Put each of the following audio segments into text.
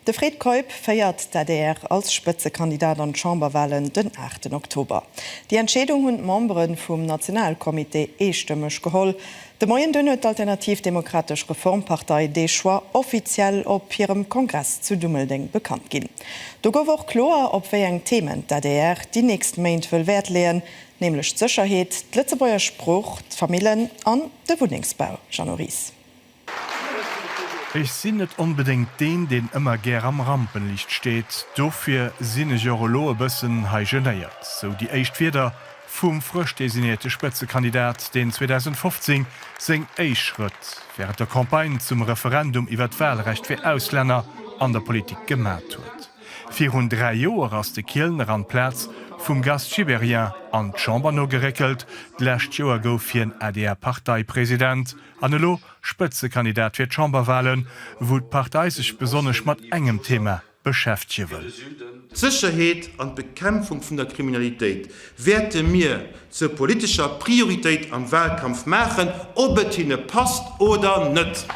De Fred Keup féiert d'ADR als Spëtzekandidat an d'Chamberwalen den aachten Oktober. Déi Entscheedung hunn d'Membere vum Nationalcomité eestëmmeg geholl. De Moien dunn huet d'Alternativ Demokratesch Reformpartei dee Choix offiziell op hirem Kongress zu Dummeldeng bekannt ginn. Do gouf och kloer, op wéi eng Themen d'ADR déi nächst Méint wëll Wäert leeën, nämlech d'Sécherheet, d'Lëtzebuerger Sprooch, d'Famillen an de Wunnengsbau. Jeannot Ries. Ech sinn net onbedéngt deen, deen ëmmer gär am Rampenlicht steet. Dofir sinn ech och elo e bëssen hei genéiert. Sou déi éischt Wierder vum frësch designéierte Spëtzekandidat, deen 2015 seng éischt Schrëtt wärend der Campagne zum Referendum iwwert d'Walrecht fir Auslänner an der Politik gemat huet. Virun dräi Joer ass de Kielner an d'Plaz vum Gast Gibéryen an d'Chamber nogeréckelt. D'lescht Joer gouf hien ADR-Parteipresident. An elo Spëtzekandidat fir d'Chamberwahlen, wou d'Partei sech besonnesch mat engem Thema beschäftege wëll. D'Sécherheet an d'Bekämpfung vun der Kriminalitéit wäerte mir zur politescher Prioritéit am Wahlkampf maachen, ob et hinne passt oder net.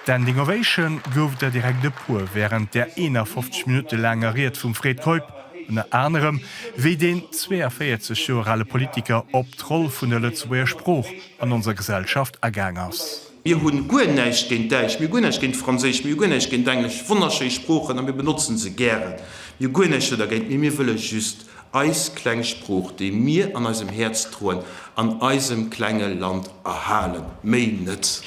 Standing Ovation gouf der direkt e puer wärend der 51 Minutte laanger Ried vum Fred Keup. Ënner anerem, wéi deen 42 Joer ale Politiker op d'Roll vun der Lëtzebuerger Sprooch an onser Gesellschaft agaang ass. Mir hu guer näischt géint Däitsch, mir hu guer näischt géint Franséisch, mir hu guer näischt géint Englesch, wonnerschéi Sproochen, a mir benotze se gären, mir hu guer näischt dergéint, mee mir wëlle just eis kleng Sprooch, déi mir an eisem Häerz droen, an eisem klenge Land erhalen, méi net!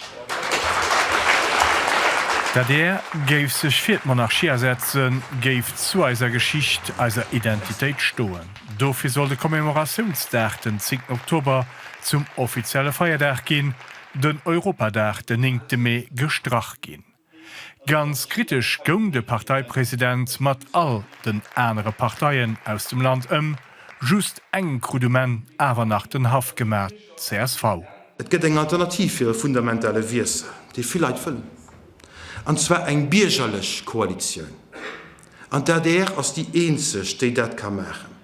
D'adr géif sech fir d'Monarchie asetzen, géif zu eiser Geschicht, eiser Identitéit stoen. Dofir soll de Commemoratiounsdag, den zéngten Oktober, zum offizielle Feierdag ginn, den Europadag, den néngte Mee, gestrach ginn. Ganz kritesch goung de Parteipresident mat all den anere Parteien aus dem Land ëm. Just engem krut um Enn awer nach den Haff gemaach, csv. Et gëtt eng Alternativ fir e fundamentale Wiessel, dee vill Leit wëllen, an zwar eng biergerlech Koalitioun. An d'ADR ass déi eenzeg, déi dat ka maachen.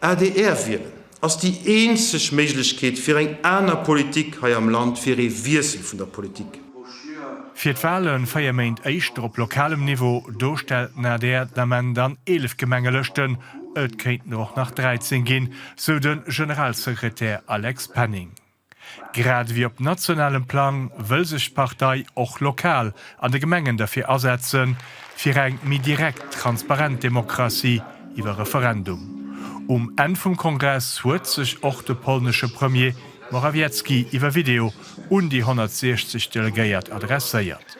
Adr wielen ass déi eenzeg Méiglechkeet fir eng aner Politik hei am Land, fir ee Wiessel vun der Politik. Fir d'Wale véier Méint éischter op lokalem Niveau, do stellt den adr den Ament an 11 Gemengelëschten, et kéinten der och nach 13 ginn, sou de Generalsekretär Alex Penning. Grad ewéi op nationalem Plang wëll sech d'Partei och lokal an de Gemengen derfir asetzen, fir eng méi direkt, transparent Demokratie iwwer Referendum. Um Enn vum Kongress huet sech och de polnesche Premier Morawiecki iwwer Video un déi 160 Delegéiert adresséiert.